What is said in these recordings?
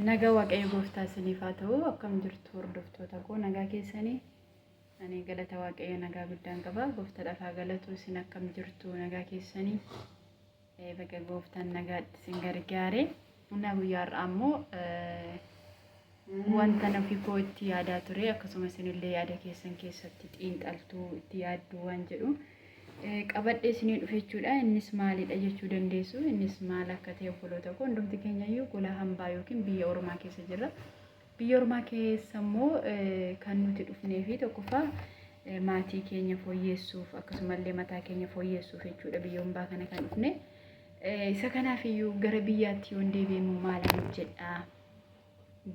Nagaa Waaqayyo Gooftaa isiniif haa ta'u. Akkam jirtu hordoftoota koo nagaa keessanii? Ani galata Waaqayyo nagaa guddaan qaba. Gooftaa dhafaa galatu isin akkam jirtu nagaa keessanii? Eh, Baga Gooftaan nagaatti isin gargaare. Humna guyyaa har'aa ammoo eh, wanta nufi koo itti yaadaa ture akkasumas isinillee yaada keessan keessatti xiinxaltuu itti yaadduu waan jedhu qabadhee isinii dhufe jechuudha. Innis maalidha jechuu dandeessu. Innis maal akka ta'e obboloota koo hundumti keenya iyyuu gola hambaa yookiin biyya ormaa keessa jirra. Biyya ormaa keessa immoo kan nuti dhufnee fi tokkoffaa maatii keenya fooyyeessuuf akkasumallee mataa keenya fooyyeessuuf jechuudha biyya hambaa kana kan dhufne. Isa kanaaf iyyuu gara biyyaatti yoon deebi'e immoo maalan hojjedha?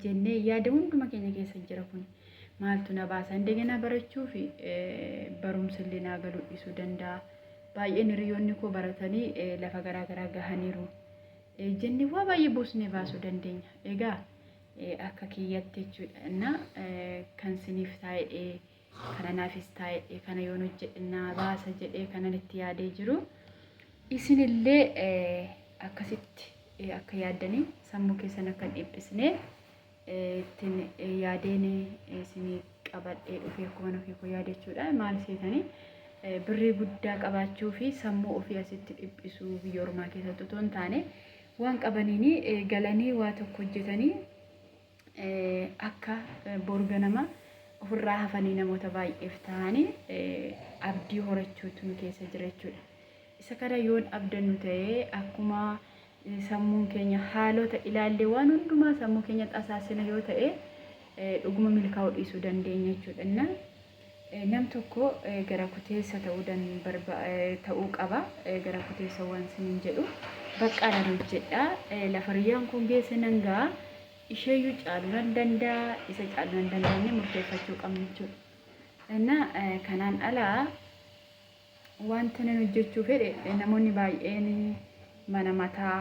jennee yaada hunduma keenya keessa jira kun maaltu na baasa indegenaa barachuu fi barumsa illee naa galuu dhiisuu danda'a baay'een hiriyoonni koo baratanii lafa garaa garaa gahaniiru jennee waa baay'ee buusnee baasuu dandeenya egaa akka kiyyatti jechuudha kan siniif taa'ee kana naafis taa'e kana yoon hojjedhe naa baasa jedhee kanan itti yaadee jiru isinillee akkasitti akka yaaddanii sammuu keessan akka hin dhiphisne ittiin yaadeen isinii qabadhee dhufee akkuma nafii koo yaade jechuudha maal seetanii birrii guddaa qabaachuu fi sammuu ofii asitti dhiphisuu biyya ormaa keessatti otoo hin taane waan qabaniin galanii waa tokko hojjetanii akka bor ganama ofirraa hafanii namoota baay'eef ta'anii abdii horachuutu nu keessa jira jechuudha. Isa kana yoon abdannu ta'e akkuma sammuun keenya haalota ilaallee waan hundumaa sammuu keenyatti asaasina yoo ta'e dhuguma milkaa'uu dhiisuu dandeenya jechuudha. Nam tokko gara kuteessa ta'uu dan barba ta'uu qaba. Gara kuteessa waan sinin jedhu baqqaa nan hojjedha. Lafa riyyaan kun geesse nan ga'a. Isheeyyuu caalu nan danda'a. Isa caalu nan danda'a inni murteeffachuu qabna jechuudha. Innaa kanaan alaa Wantinan hojjechuu fedhe namoonni baay'een mana mataa,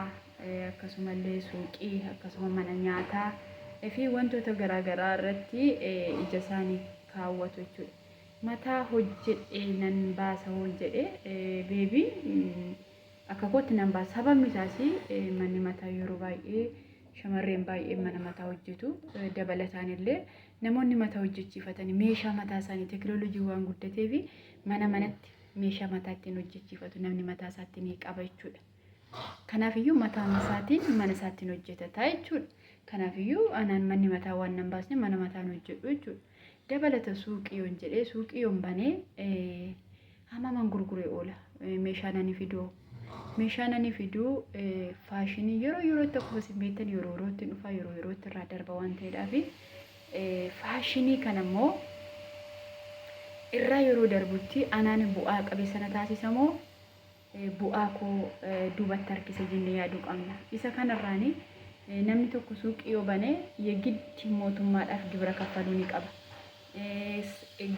akkasumallee suuqii, akkasuma mana nyaataa fi wantoota garaagaraa irratti ijasaanii kaawwatu jechuudha. Mataa hojjedhee nan baasa hoon jedhe beebiin akka kootti nan baasa. Sababni isaas manni mataa yeroo baay'ee shamarreen baay'een mana mataa hojjetu. Dabalataan illee namoonni mataa hojjechiifatan meeshaa mataa isaanii teekinooloojiin waan guddateef Mana manatti meeshaa mataa ittiin hojjechiifatu namni mataa isaatti ni qaba jechuudha. Kanaaf iyyuu mataa isaatiin mana isaattiin hojjetata jechuudha. Kanaaf iyyuu anaan manni mataa waan nan baasne mana mataan hojjedhu jechuudha. Dabalata suuqii yoon jedhee suuqii yoon banee eh, hamaman gurguree oola Eh, meeshaa nani fidoo meeshaa nani fiduu eh, faashinii yeroo yerootti akkuma isin beektan yeroo yerootti hin dhufaa yeroo yerootti irraa darba waan ta'eedhaa fi Faashinii kana immoo irra yeroo darbutti anaan bu'aa qabeessa na taasisa moo bu'aa koo duubatti harkisa jennee yaaduu qabna. Isa kanarraan namni tokko suuqii yoo bane yegitti mootummaadhaaf gibira kaffaluu ni qaba.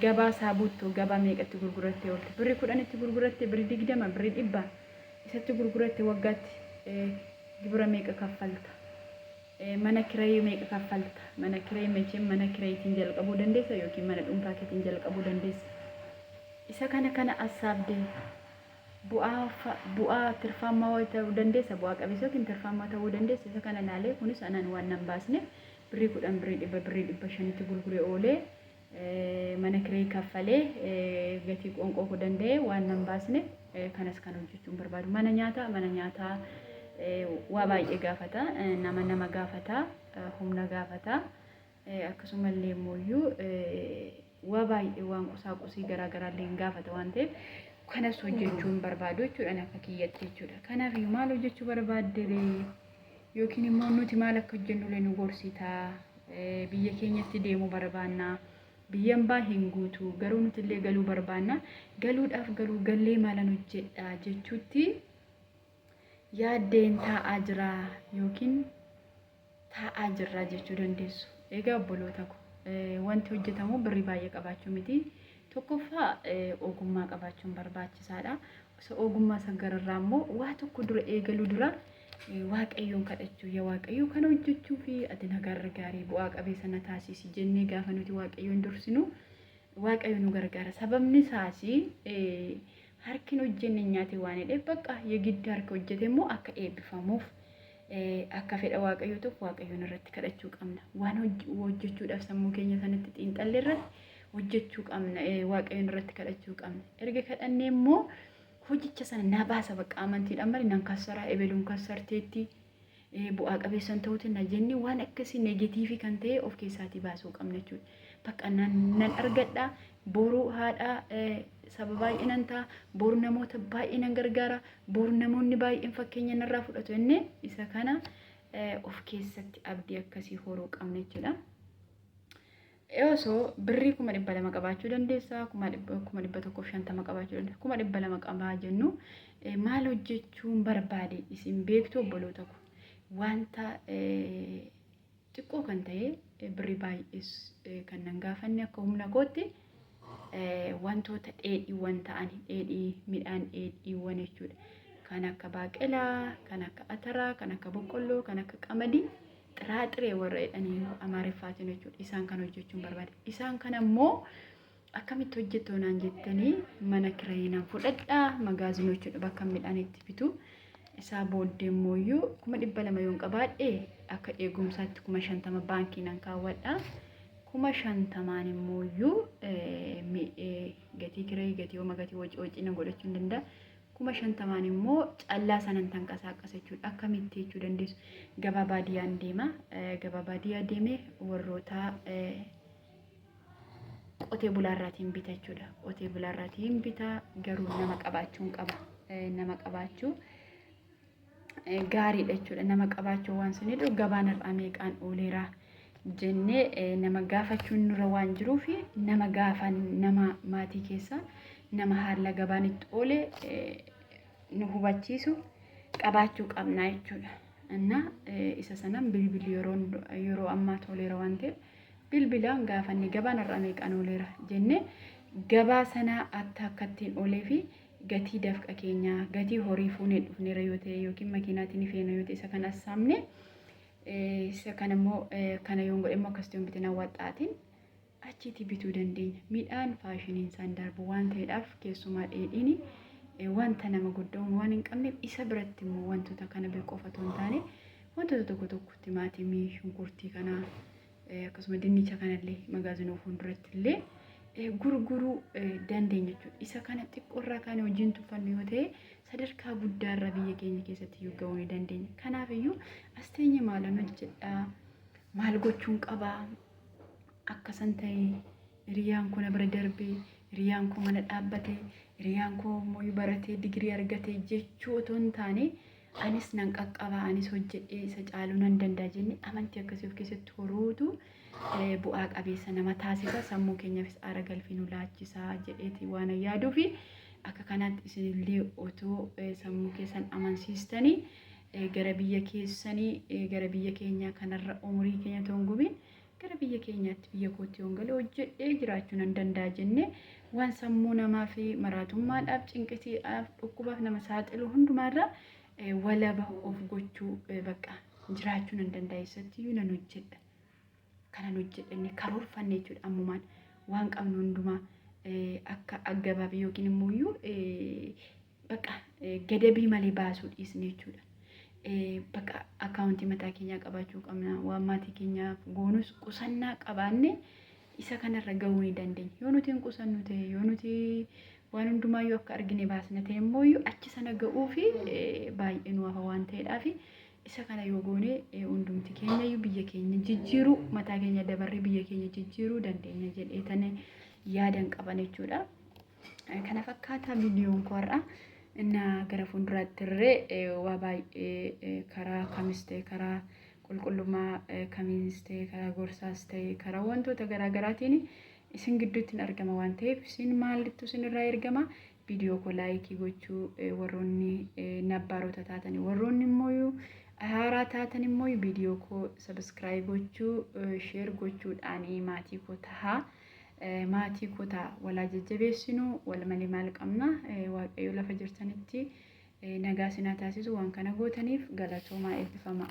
Gabaa isaa buuttu gabaa meeqa itti gurgurattee oolte? Birri kudhan itti gurgurattee birri digdama birri dhibba isatti gurguratte waggaatti gibira meeqa kaffalta? Mana kirayi meeqa kaffalta? Mana kirayi mechem mana kirayitin jalqabuu dandeessa yookiin mana dhuunfaa keetin jalqabuu dandeessa. Isa kana kana assaabde bu'aa fa bu'aa tirfaammaa wa ta'uu dandeessa bu'aa qabeessa yookiin tirfaammaa ta'uu dandeessa isa kana laalee kunis anaan waan nan baasneef birrii kudhan birrii dhibba birrii dhibba shanitti gurgure oolee mana kiree kaffalee gatii qoonqoo koo danda'ee waan nan baasne kanas kan hojjechuun barbaadu mana nyaataa mana nyaataa waa baay'ee gaafata nama nama gaafata humna gaafata akkasumallee immoo waa baay'ee waan qusaa qusii garaa garaa illee gaafata waan ta'eef kanas hojjechuun barbaadu jechuudha akka kiyyatti jechuudha kanaaf maal hojjechuu barbaadde Yookiin immoo nuti maal akka hojjennullee nu gorsita. Biyya keenyatti deemuu barbaanna. Biyya ambaa hin guutu. Garuu nuti illee galuu barbaanna. Galuudhaaf garuu gallee maalan hojjedha jechuutti yaaddeen taa'aa jira yookiin taa'aa jirra jechuu dandeessu. Egaa obboloota ko wanti hojjetamu birrii baay'ee qabaachuu miti. Tokkoffaa ogummaa qabaachuun barbaachisaadha. Osoo ogummaa san gararraa immoo waa tokko dura eegaluu dura waaqayyoon kadhachuu yaa waaqayyoo kana hojjechuu fi ati na gargaari bu'aa qabeessa na taasisi jennee gaafa nuti waaqayyoon dursinu waaqayyo nu gargaara. Sababni isaas harkin hojjenne nyaate waan hidheef bakka yegiddi harka hojjete immoo akka eebbifamuuf Akka fedha Waaqayyoo tokko Waaqayyoon irratti kadhachuu qabna. Waan hojjechuudhaaf sammuu keenya sanatti xiinxalle irratti hojjechuu qabna. Waaqayyoon irratti kadhachuu qabna. Erga kadhannee immoo hojicha sana na baasa bakka amantiidhaan malee nan kassaraa ebeluun kassarteetti bu'aa qabeessan ta'uuti na jennee waan akkasii negatiivii kan ta'e of keessaatii baasuu qabna jechuudha. Bakka nan argadha boruu haadha saba baay'ee nan ta'a boru namoota baay'ee nan gargaara Bor namoonni baay'een fakkeenya narraa fudhatu jennee isa kana of keessatti abdii akkasii horuu qabna jechuudha. Osoo birrii kuma dhibba lama qabaachuu dandeessa, kuma dhibba tokkoof shantama qabaachuu dandeessa, kuma dhibba lama qabaa jennu maal hojjechuun barbaade isin beektu obboloota ko wanta Xiqqoo kan ta'e birri baay'ees kan nan gaafanne akka humna kootti wantoota dheedhiiwwan ta'an dheedhii midhaan dheedhiiwwan jechuudha. Kan akka baaqelaa, kan akka ataraa, kan akka boqqolloo, kan akka qamadii xiraaxiree warra jedhanii amaariffaatiin jechuudha. Isaan kan hojjechuun barbaade. Isaan kan ammoo akkamitti hojjettoo naan jettanii mana kirayii naan fudhadhaa magaazinochuudha bakka midhaan itti bitu isaa booddee immooyyuu kuma dhibba lama yoon qabaadhe akka eegumsaatti kuma shantama baankii naan kaawwadha kuma shantamaan immooyyuu gatii kirayii gatii hooma gatii wacii wacii nan godhachuu hin danda'a kuma shantamaan immoo callaa sanan tanqasaaqasa jechuudha akkamitti jechuu dandeessu gabaa baadiyyaan deema gabaa baadiyyaa deemee warroota qotee bulaarraatiin bita jechuudha. Qotee bulaarraatiin bita garuu nama qabaachuun qaba. Nama qabaachuu gaariidha jechuudha. Nama qabaachuu waan sun jedhu gabaan irraa meeqaan ooleera jennee nama gaafachuun nurra waan jiruuf nama gaafan nama maatii keessaa nama haala gabaan itti oole nu hubachiisu qabaachuu qabna jechuudha. Innaa isa sanan bilbilli yeroo ammaa tooleera waan ta'eef bilbilaan gaafanne gabaan har'aa meeqaan ooleera jenne gabaa sanaa akka akkattiin oolee fi gatii dafqa keenyaa gatii horii fuunee dhufneera yoo ta'e yookiin makiinaatiin feena yoo ta'e isa kan assaamne isa kana immoo kana yoon godhe immoo akkasitti yoon bitin awwaxxaatiin achiitii bituu dandeenya midhaan faashiniin isaan darbu waan ta'eedhaaf keessumaa dheedhiin wanta nama gudda'uun waan hin qabneef isa biratti immoo wantoota kana beeku qofa otoo hin taane Wantoota tokko tokko timaatimii, shunkurtii kana akkasuma dinnicha kanallee magaazinoo fuulduratti illee gurguruu dandeenya jechuudha. Isa kana xiqqoorraa kan hojiin tuffannu yoo ta'e sadarkaa guddaarra biyya keenya keessatti iyyuu ga'uu ni dandeenya. Kanaaf iyyuu as teenye maalan hojjedhaa maal gochuun qabaa akkasan ta'e Hiriyaan koo na bira darbee, hiriyaan koo mana dhaabbate, hiriyaan koo immoo baratee digirii argate jechuu otoo hin taane anis nan qaqqaba, anis hojjedhee isa caaluu nan danda'a jennee amantii akkasii of keessatti horuutu eh, bu'aa qabeessa nama taasisa, sammuu keenyaafis aara galfii nu laachisa jedheeti waan an yaaduu fi akka kanaatti isinillee otoo eh, sammuu keessan amansiistanii eh, gara biyya keessanii eh, gara biyya keenyaa kanarra umurii keenya otoo hin gubiin Gara biyya keenyaatti biyya kootti yoon gale hojjedhee jiraachuu nan danda'a jennee waan sammuu namaa fi maraatummaadhaaf, cinqisiidhaaf, dhukkubaaf nama saaxilu hundumaarraa eh, walaba of gochuu eh, bakka jiraachuu nan danda'a eessattiyyuu nan hojjedha. kanan hojjedhe inni karoorfanne jechuudha ammumaan waan qabnu hundumaa eh, akka aggabaabee yookiin immoo iyyuu eh, baqa gadabii malee baasuu dhiisne jechuudha. Baqa akkaawuntii mataa keenyaa qabaachuu qabna. Waan maatii keenyaaf goonus qusannaa qabaanne isa kanarra gahuu ni dandeenya. Yoo nuti hin qusannu ta'e, yoo nuti waan hundumaa yoo akka argine baasna ta'e immoo achi sana ga'uu fi baay'ee nu hafa waan ta'eedhaaf isa kana yoo goone hundumti keenya iyyuu biyya keenya jijjiiruu mataa keenya dabarree biyya keenya jijjiiruu dandeenya jedhee tane yaadan qaban jechuudha. Kana fakkaataa viidiyoon koo har'a na gara fuulduraatti irree waa baay'ee karaa kamis ta'e karaa qulqullummaa kamiinis ta'e karaa gorsaas ta'e karaa wantoota garaa garaatiin isin gidduutti hin argama waan ta'eef isin maalittu isin irraa ergama viidiyoo koo laayikii gochuu warroonni nabbaarota taatan warroonni immoo haaraa taatan immoo viidiyoo koo sabiskiraayib gochuu sheer gochuudhaan maatii koo tahaa. Maatii koo ta'a walaa jajjabeessinu wal malee maal qabna waaqayyo lafa jirtanitti nagaa sinaa taasisu waan kana gootaniif galatoomaa eebbifamaa.